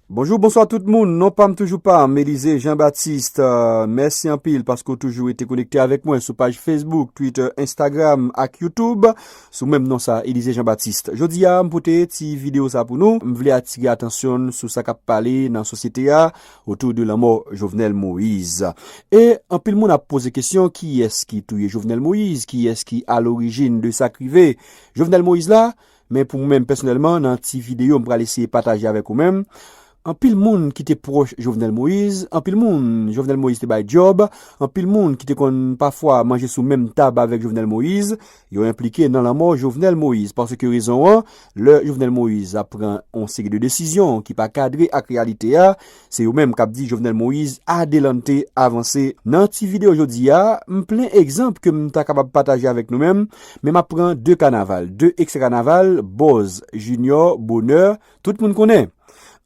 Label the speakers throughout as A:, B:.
A: Bonjou bonswa tout moun, non pam toujou pam, Elize Jean Baptiste, mèsi anpil paske ou toujou rete konekte avèk mwen sou paj Facebook, Twitter, Instagram ak YouTube sou menm non sa Elize Jean Baptiste. Jodi a m pote ti video sa pou nou, m vle atire atansyon sou sa kap pale nan sosyete a otou de lanmò Jovenel Moise. E anpil moun ap poze kesyon kiyès ki touye Jovenel Moise, kiyès ki alorijin de sak rive Jovenel Moise la? Men pou mwen menm pèsonèlman nan ti videyo m pral eseye pataje avèk ou menm, anpil moun ki te pwòch Jovenel Moïse, anpil moun Jovenel Moïse te bay djòb, anpil moun ki te konn pafwa manje sou menm tab avèk Jovenel Moïse, yo enplike nan lanmò Jovenel Moïse. Paske rezon an, lè Jovenel Moïse ap pran yon seri de desizyon ki pa kadre ak reyalite a, Se yo menm kap di Jovenel Moise adelante, avanse. Nan ti video jodi a, m plen egzanp ke m ta kapab pataje avèk nou menm, men map pran 2 kanaval, 2 ekstra kanaval, Bòz, Jinyò, Bonè, tout moun konnen.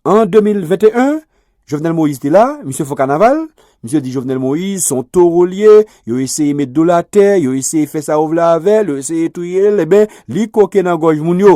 A: An 2021, Jovenel Moise te la, misye fò kanaval, misye di Jovenel Moise son toro li ye, yo eseye met do l atè, yo eseye fè sa yo vle avè l, yo eseye touye l, eben li koke nan gòj moun yo.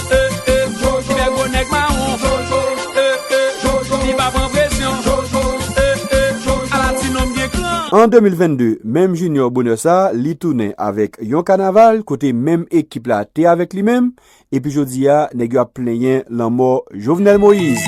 A: An 2022, menm Junior bonè sa li tounen avèk yon kanaval kote menm ekip la te avèk li menm epi jodi a nèg yo ap plenyen lanmò Jovenel Moïse.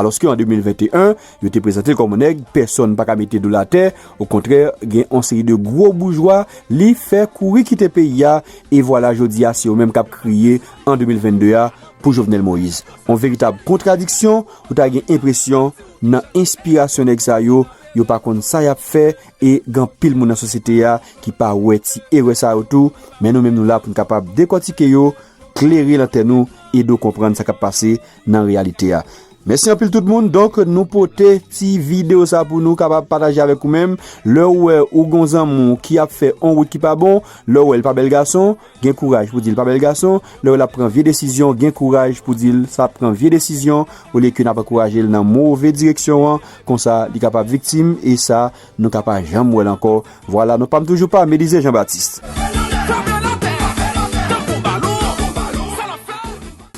A: Alòske an 2021, yo te prezante l kòm yon nèg pèsòn pa ka mete do l atè, okontrè gen yon seri de gwo boujwa li fè kouri kite peyi a, e vwala jodi a se yo menm k ap kriye an 2022 a pou Jovenel Moïse. Yon veritab kontradiksyon, ou ta gen enpresyon nan enspirasyon nèg sa yo, yo pa konn sa y ap fè e gen anpil moun nan sosyete a ki pa wè ti erè sa yo tou, men nou menm nou la pou n kapab dekòtike yo. klere lantèn nou, ede w konprann sa k ap pase nan reyalite a. Mèsi anpil tout moun. Donk, nou pote ti videyo sa pou nou kapab pataje avèk ou menm. Lè ou wè ou gen yon zanmi w ki ap fè yon wout ki pa bon, lè ou wè l pa bèl gason, gen kouraj pou di l pa bèl gason. Lè ou wè l ap pran vye desizyon, gen kouraj pou di l sa ap pran vye desizyon, olye ke n ap ankouraje l nan move direksyon an, konsa li kapab viktim e sa Nou ka pa janm wèl ankò. Vwala non pam toujou pa Melize Jean Baptiste.